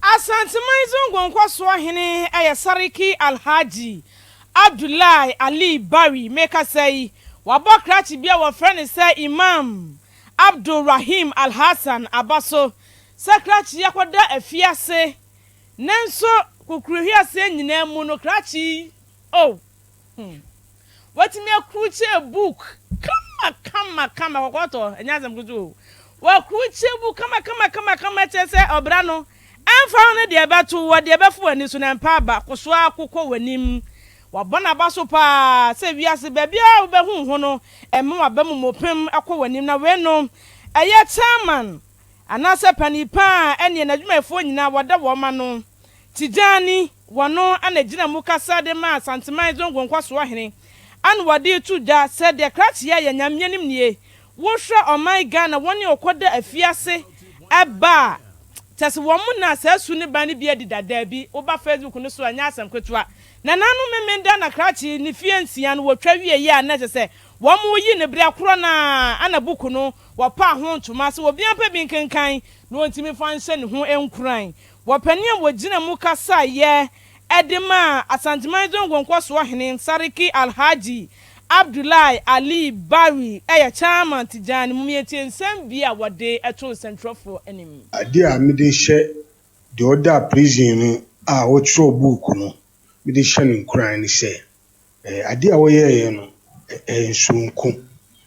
Asanteman Zongo Nkɔsoɔ Hene yɛ Sariki Alhaji Abdullahi Ali Bari mekasa yi, wabɔ krakye bi a wɔfrɛ no sɛ Imam Abdul Rahim Alhassan aba so sɛ krakye yi akɔda afiase nanso kokurohwiaseɛ nyinaa mu no krakye yi oh! Hmm. Watumi akurukye book kama kama kama kɔkɔɔtɔ ɛnyɛ asɛm ketewa o. Wakurukye book kama kama kama kama kyerɛ sɛ ɔbra no ɛmfa ho ne deɛ ɛbɛto wɔ deɛ ɛbɛfo w'ani so na ɛmpa aba ko so ara ko kɔ w'anim. Wabɔ n'aba so paa sɛ wiase baabiara a wobɛhu ho no ɛmma w'aba mu mmɔpem kɔ w'anim na wei no ɛyɛ chairman anaasɛ panin pa a ɛneɛ n'adwumayɛfoɔ nyinaa wɔda wɔn ano. Tijani, wɔno na gyina mu kasa de ma Asanteman Zongo Nkwasoɔ Hene, ɛna wɔde to dwa sɛ deɛ krakye a ɛyɛ Nyame anim nie, wohwɛ ɔman Ghana wɔne ɔkɔ da afiase ba a, kyɛsɛ wɔn na saa su ne ban no bi adi da, daabi, woba Facebook no so a ɛnyɛ asɛm ketewa. Nananom Memenda na krakye ne fie nsia no wɔtwa wieɛ a na ɛsɛ sɛ wɔn yi no berɛ korɔ no ara, ɛna buku no wɔpaa ho ntoma sɛ obiara mpɛ bi nkenkan na ɔntumi mfa nhyɛ ne ho nkuran Wɔpɛnee a wɔgyina mu kasaeɛ de maa Asanteman Zongo Nkɔsoɔ Hene Sariki Alhaji Abdullahi Ali Barry yɛ Chairman Tijani Mum Yɛntie nsɛm bi a wɔde too nsɛntwerɛfoɔ anim. Adeɛ a mede hyɛ deɛ ɔda prison mu a ɔtwerɛ book no mede hyɛ no nkuran ne sɛ, Ɛɛ adeɛ a wɔyɛeɛ no, ɛyɛ soronko.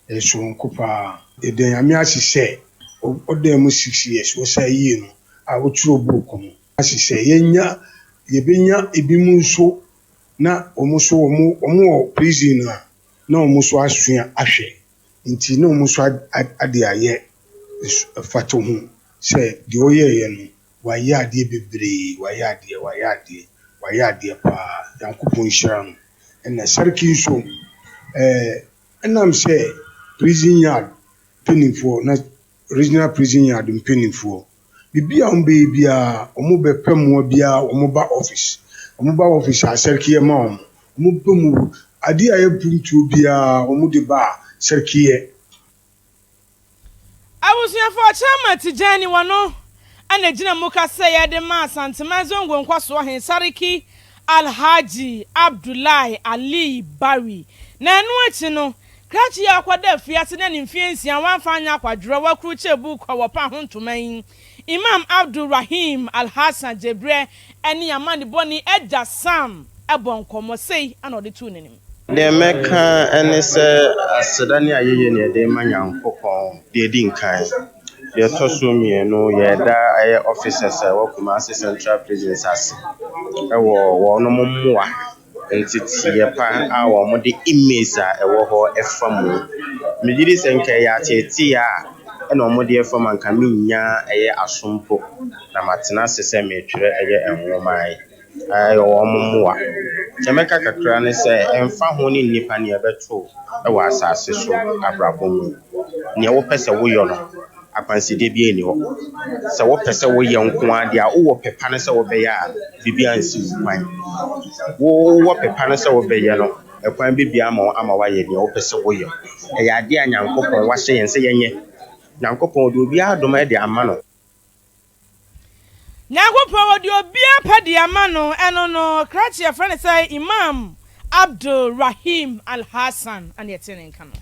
Ɛyɛ soronko pa ara. Yɛda Nyame ase sɛ ɔdaa mu six years, ɔsaa yie no a wotwerɛ book no ase sɛ yɛnya, yɛbɛnya ebinom nso na wɔn nso wɔn, wɔn wɔ prison a na wɔn nso asua ahwɛ. Enti na wɔn nso ade ayɛ mfatoho sɛ deɛ ɔyɛeɛ no, wayɛ adeɛ bebree, wayɛ adeɛ, wayɛ adeɛ, wayɛ adeɛ pa ara, Nyankopɔn nhyira no. Ɛna Sarki nso, ɛɛ, ɛnam sɛ prison yard mpanimfoɔ, na regional prison yard mpanimfoɔ, biribi a wɔbɛyɛ biara wɔbɛpɛ mmoa biara a wɔba office wɔba office a sɛrkiyɛ ma wɔn wɔpɛ mu adeɛ a ɛyɛ pruntuo biara wɔde ba a sɛrkiyɛ. Abusuafo Ɔkyerɛma Tijani wɔno na ɛgyina mu kasɛeɛ de ma Asanteman Zongo Nkwasoɔ He Sariki Alhaji Abdullahi Aliyi Bari na ɛno akyi no Krakye yi a ɔkɔda afiase na ne mfeɛ nsia wamfa anyɛ akwadworɔ wɔakurukyire buuku a wɔpa ho ntoma yi, Imam Abdul Rahim Alhassan Jebre ne amanebɔne agya Sam bɔ nkɔmmɔ. Sei na ɔde too n'anim. Deɛ mɛka ne sɛ aseda ne ayɛyie na yɛde rema Nyankopɔn, deɛ ɛdi nkan. Deɛ ɛtɔ so mmienu, yɛreda ɛyɛ officers a ɛwɔ Kumasi Central Prisons ase wɔ wɔnom mmoa. nteteeɛ pa a wɔde image a ɛwɔ hɔ fa mu. Megye di sɛ nka ɛyɛ ateeteeɛ a ɛna wɔde afa mu a nka mennya ɛyɛ aso mpo na matena ase sɛ meretwerɛ ɛyɛ nwoma yi. Ɛyɛ wɔn mmoa. Deɛ mɛka kakra ne sɛ ɛmfa ho ne nnipa nea ɛbɛto wo wɔ asase so abrabɔ mu, nea wopɛ sɛ woyɔ no. Akwansideɛ biara nni hɔ. Sɛ wopɛ sɛ woyɛ nko ara deɛ a, wowɔ pɛ pa no sɛ wobɛyɛ a, biribiara nsi wo kwan. Wo wowɔ pɛ pa no sɛ wobɛyɛ no, ɛkwan bɛbue ama wo ama woayɛ deɛ wopɛ sɛ woyɛ. Ɛyɛ adeɛ a Nyankopɔn wahyɛ yɛn sɛ yɛnyɛ. Nyankopɔn ɔde obiara adom de ama no. Nyankopɔn ɔde obiara pɛ de ama no. Ɛno no, krakye a yɛfrɛ no sɛ Imam Abdul Rahim Al-Hassan na ɛte ne nka no.